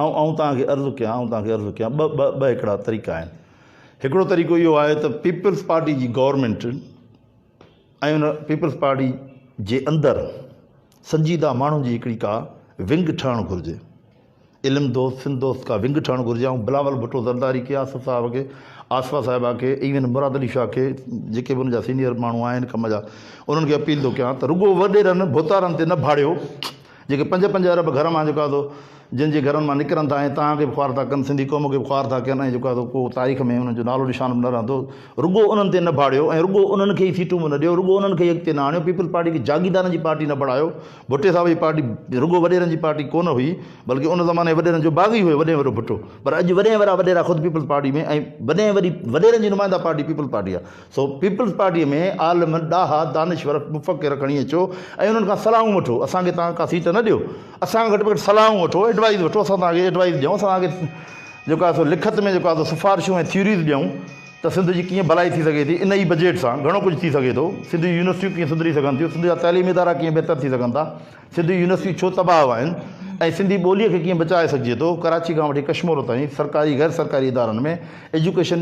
آئون آئون توهان کي عرض ڪيان آئون توهان کي عرض ڪيان ٻه ٻه ٻه هڪڙا طريقا آهن هڪڙو طريقو اهو آهي ته پيپلز پارٽي جي گورنمنٽ ۽ ان پيپلز پارٽي جي اندر سنجيده ماڻهن جي هڪڙي ڪا ونگ ٺهڻ گهرجي علم دوست سنڌ دوست ڪا ونگ ٺهڻ گهرجي آئون بلاول ڀٽو زرداري کي آصف صاحب کي آصفا صاحبه کي ايون مراد علي شاهه کي جيڪي به ان جا سينئر ماڻهو آهن ڪم جا انهن کي اپيل ٿو ڪيان ته رڳو وڏيرن ڀوتارن تي نه ڀاڙيو جيڪي پنج پنج ارب گهر مان جيڪو آهي جن جي گهرن مان نڪرن ٿا ۽ توهان کي به خوار ٿا ڪن سنڌي قوم کي به خوار ٿا ڪن ۽ جيڪو آهي ڪو تاريخ ۾ انهن جو نالو نشان به نه رهندو رڳو انهن تي نه ڀاڙيو ۽ رڳو انهن کي ئي سيٽون به نه ڏيو رڳو انهن کي ئي اڳتي نه آڻيو پيپلز پارٽي کي جاگيردارن جي پارٽي نه بڻايو ڀٽي صاحب جي پارٽي رڳو وڏيرن جي پارٽي ڪونه هئي بلڪه ان زماني وڏيرن جو باغي هيو وڏي ۾ وڏو ڀٽو پر اڄ وڏي ۾ وڏا وڏيرا خود پيپلز پارٽي ۾ ۽ وڏي ۾ وڏي وڏيرن جي نمائنده پارٽي پيپلز پارٽي آهي سو پيپلز پارٽيء ۾ عالم، ڏاها، دانشور، مفڪر کڻي اچو ۽ انهن کان صلاحون وٺو، اسان کي توهان ڪا سيٽ نه ڏيو، اسان کان گهٽ ۾ گهٽ صلاحون وٺو، ايڊوائيز وٺو، اسان توهان کي ايڊوائيز ڏيون، اسان توهان کي جيڪو آهي سو لکت ۾ جيڪو آهي سو سفارشون ۽ ٿيوريز ڏيون ته سنڌ جي ڪيئن ڀلائي ٿي سگهي ٿي، ان ئي بجيٽ سان گهڻو ڪجهه ٿي سگهي ٿو، سنڌ جون يونيورسٽيون ڪيئن سڌري سگهن ٿيون، سنڌ جا تعليمي ادارا ڪيئن بهتر ٿي سگهن ٿا. سنڌ يونيورسٽيون ڇو تباهه آهن ۽ سنڌي ٻوليء کي ڪيئن بچائي سگهجي ٿو، ڪراچي کان وٺي ڪشمور تائين سرڪاري غير سرڪاري ادارن ۾ ايجوڪيشن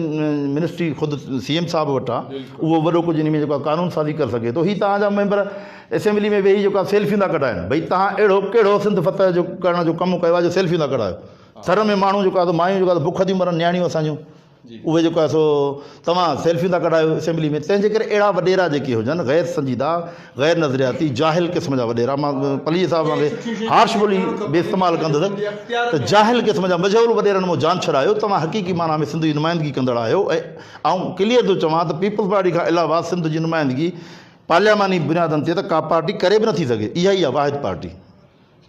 منسٽري خود سي ايم صاحب وٽ آ اهو وڏو ڪجهه انهي ۾ جيڪو آ قانون سازي ڪري سگهي ٿو هي توهان جا ميمبر اسيمبلي ۾ ويهي جيڪو آ سيلفيون ٿا ڪڍائين ڀئي توهان اهڙو ڪهڙو سنڌ فتح جو ڪرڻ جو ڪم ڪيو آ جو سيلفيون ٿا ڪڍايو ٿر ۾ ماڻهو جيڪو آ سو مايون جيڪو آ سو بک ٿيون مرن نياڻيون اسان جون اهي جيڪو آهي سو توهان سيلفيون ٿا ڪڍايو اسيمبلي ۾ تنهن جي ڪري اهڙا وڏيرا جيڪي هجن غير سنجيده غير نظرياتي جاهل قسم جا وڏيرا مان پليجي صاحب وانگي هارش ٻولي به استعمال ڪندس ته جاهل قسم جا مجهول وڏيرن مون جان ڇڏايو توهان حقيقي معنيٰ ۾ سنڌ جي نمائندگي ڪندڙ آهيو ۽ آئون ڪليئر ٿو چوان ته پيپلز پارٽي کان علاوه سنڌ جي نمائندگي پارلياماني بنيادن تي ته ڪا پارٽي ڪري به نٿي سگهي اها ئي آهي واحد پارٽي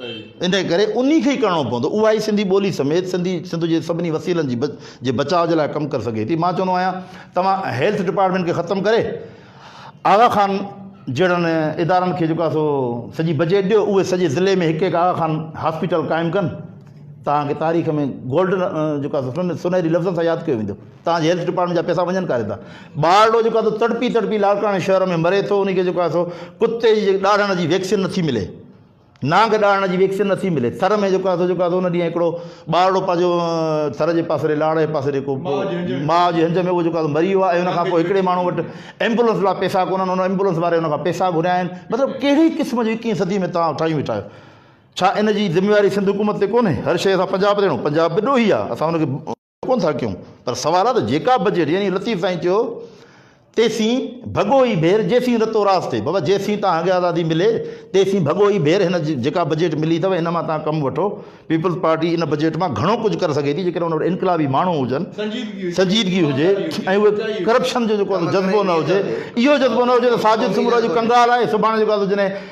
انهيء ڪري انهي کي ئي ڪرڻو پوندو. اها ئي سنڌي ٻولي سميت سنڌي سنڌ جي سڀني وسيلن جي جي بچاء جي لاء ڪم ڪري سگهي ٿي. مان چوندو آهيان توهان هيلٿ ڊپارٽمينٽ کي ختم ڪري آغا خان جهڙن ادارن کي جيڪو آهي سو سڄي بجيٽ ڏيو اهي سڄي ضلعي ۾ هڪ هڪ آغا خان هاسپيٽل قائم ڪن توهان کي تاريخ ۾ گولڊن جيڪو آهي سو سونهري لفظن سان ياد ڪيو ويندو توهان جي هيلٿ ڊپارٽمينٽ جا پئسا وڃن ڪاٿي ٿا ٻارڙو جيڪو آهي سو تڙپي تڙپي لاڙڪاڻي شهر ۾ مري ٿو انهي کي جيڪو آهي سو ڪتي جي ڏاڙهڻ جي ويڪسين نٿي ملي. نانگ ڏاڙهڻ جي ويڪسين نٿي ملي ٿر ۾ جيڪو آسو جيڪو آسو ان ڏينهن هڪڙو ٻارڙو پنهنجو ٿر جي پاسري لاڙ جي پاسري جيڪو ماء جي هنج ۾ اهو جيڪو آسو مري ويو آهي ان کان پوء هڪڙي ماڻهو وٽ ايمبولنس لاء پيسا ڪونهن ان ايمبولنس واري ان کان پيسا گهريا آهن مطلب ڪهڙي قسم جي اڪيهين صدي ۾ توهان ٺاهيون ويٺا آهيو ڇا ان جي ذميواري سنڌ حڪومت تي ڪونهي هر شيء سان پنجاب رهڻو پنجاب به ڏوهي آهي اسان ان کي ڪونه ٿا ڪيون پر سوال آ ته جيڪا بجيٽ يعني لطيف سائين چيو تيسين ڀڳو ئي ڀير جيسين رتو راس ٿئي بابا جيسين تان کي آزادي ملي تيسين ڀڳو ئي ڀير هن جيڪا بجيٽ ملي اٿو ان مان تان ڪم وٺو پيپلز پارٽي ان بجيٽ مان گهڻو ڪجهه ڪري سگهي ٿي جيڪڏهن ان وٽ انقلابي ماڻهو هجن سنجيدگي هجي ۽ اهو ڪرپشن جو جيڪو جذبو نه هجي اهو جذبو نه هجي ته ساجد سومرا جو ڪنگال آهي سڀاڻي جيڪو آ سو جڏهن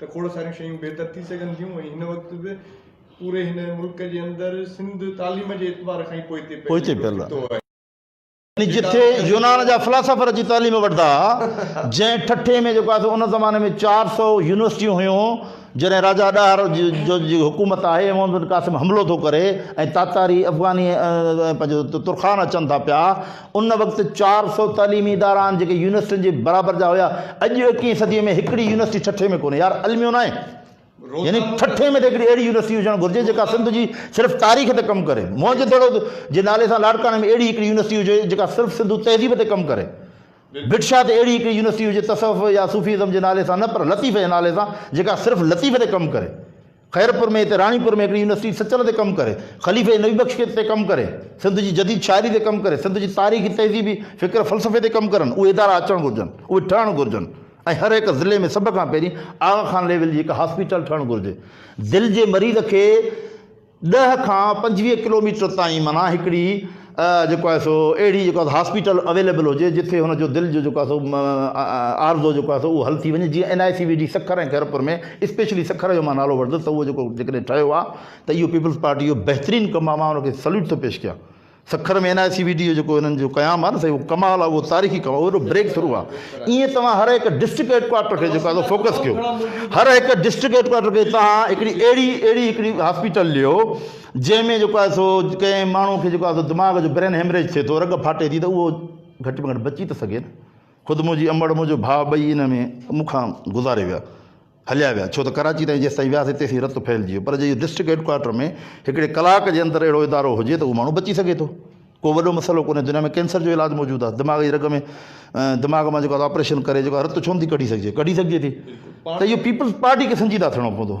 ته کوڙ ساريون شيون بهتر ٿي سگهن ٿيون ۽ هن وقت به پوري هن ملڪ جي اندر سنڌ تعليم جي اعتبار کان ئي پوئتي پيل آهي. يعني جتي يونان جا فلاسافر اچي تعليم وٺندا ها، جنهن ٺٽي ۾ جيڪو آهي سو ان زماني ۾ چار سؤ يونيورسٽيون هيون، جڏهن راجا ڏاهر جو جي حڪومت آهي، محمد بن قاسم حملو ٿو ڪري ۽ تاتاري، افغاني ۽ پنهنجو ترخان اچن ٿا پيا، ان وقت چار سؤ تعليمي ادارا آهن جيڪي يونيورسٽين جي برابر جا هيا اڄ ايڪويهين صدي ۾ هڪڙي يونيورسٽي ٺٽي ۾ ڪونهي يار الميو ناهي يعني ٺٽي ۾ ته هڪڙي اهڙي يونيورسٽي هجڻ گهرجي جيڪا سنڌ جي صرف تاريخ تي ڪم ڪري موهن جدڙو جي نالي سان لاڙڪاڻي ۾ اهڙي هڪڙي يونيورسٽي هجي جيڪا صرف سنڌو تهذيب تي ڪم ڪري بٽشاهه تي اهڙي هڪڙي يونيورسٽي هجي تصوف يا صوفيزم جي نالي سان نه پر لطيفه جي نالي سان جيڪا صرف لطيفه تي ڪم ڪري خيرپور ۾ هتي راڻيپور ۾ هڪڙي يونيورسٽي سچل تي ڪم ڪري، خليفي نبي بخش کي تي ڪم ڪري، سنڌ جي جديد شاعري تي ڪم ڪري، سنڌ جي تاريخي، تهذيبي، فڪر فلسفي تي ڪم ڪرن، اهي ادارا اچڻ گهرجن، اهي ٺهڻ گهرجن ۽ هر هڪ ضلعي ۾ سڀ کان پهرين آغا خان ليول جي هڪ هاسپيٽل ٺهڻ گهرجي، دل جي مريض کي ڏهه کان پنجويهه ڪلوميٽر تائين معنيٰ هڪڙي. جيڪو آهي سو اهڙي جيڪو آهي هاسپيٽل اويليبل هجي جتي هن جو دل جو جيڪو آهي سو عارضو جيڪو آهي سو اهو حل ٿي وڃي جيئن N I C V D Sukkur ۽ Khairpur ۾ specially Sukkur جو مان نالو وٺندس ته اهو جيڪو جيڪڏهن ٺهيو آهي ته اهو پيپلز پارٽي جو بهترين ڪم آهي مان ان کي سليوٽ ٿو پيش ڪيان Sukkur ۾ N I C V D جو جيڪو هنن جو قيام آهي نه سائين اهو ڪمال آهي اهو تاريخي ڪم اهو اهڙو بريڪ ٿرو آهي ايئن توهان هر هڪ ڊسٽرڪٽ هيڊ ڪوارٽر کي جيڪو آهي سو فوڪس ڪيو هر هڪ ڊسٽرڪٽ هيڊ ڪوارٽر کي توهان هڪڙي اهڙي اهڙي هڪڙي هاسپيٽل ڏيو جنهن ۾ جيڪو آهي سو ڪنهن ماڻهو کي جيڪو آهي سو دماغ جو برين هيمريج ٿئي ٿو رڳ ڦاٽي ٿي ته اهو گهٽ ۾ گهٽ بچي ته سگهي نه خود منهنجي امڙ منهنجو ڀاء ٻئي ان ۾ مون کان گذاري ويا هليا ويا ڇو ته ڪراچي تائين جيستائين وياسي تيسين رت ڦهلجي ويو پر جي اهو ڊسٽرڪٽ هيڊ ڪوارٽر ۾ هڪڙي ڪلاڪ جي اندر اهڙو ادارو هجي ته اهو ماڻهو بچي سگهي ٿو ڪو وڏو مسئلو ڪونهي دنيا ۾ ڪينسر جو علاج موجود آهي دماغ جي رڳ ۾ دماغ مان جيڪو آپريشن ڪري جيڪو رت ڇو نٿي ڪڍي سگهجي ڪڍي سگهجي ٿي ته اهو پيپلز پارٽي کي سنجيده ٿيڻو پوندو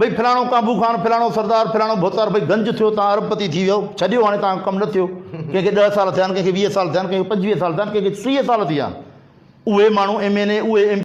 ڀئي فلاڻو ڪانڀو خان، فلاڻو سردار، فلاڻو ڀوتار ڀئي گنج ٿيو، توهان ارب پتي ٿي ويو، ڇڏيو هاڻي توهان کان ڪم نه ٿيو. ڪنهن کي ڏهه سال ٿيا آهن، ڪنهن کي ويهه سال ٿيا آهن، ڪنهن کي پنجويهه سال ٿيا آهن، ڪنهن کي ٽيهه سال ٿي ويا آهن. اهي ماڻهو ايم اين اي، اهي ايم.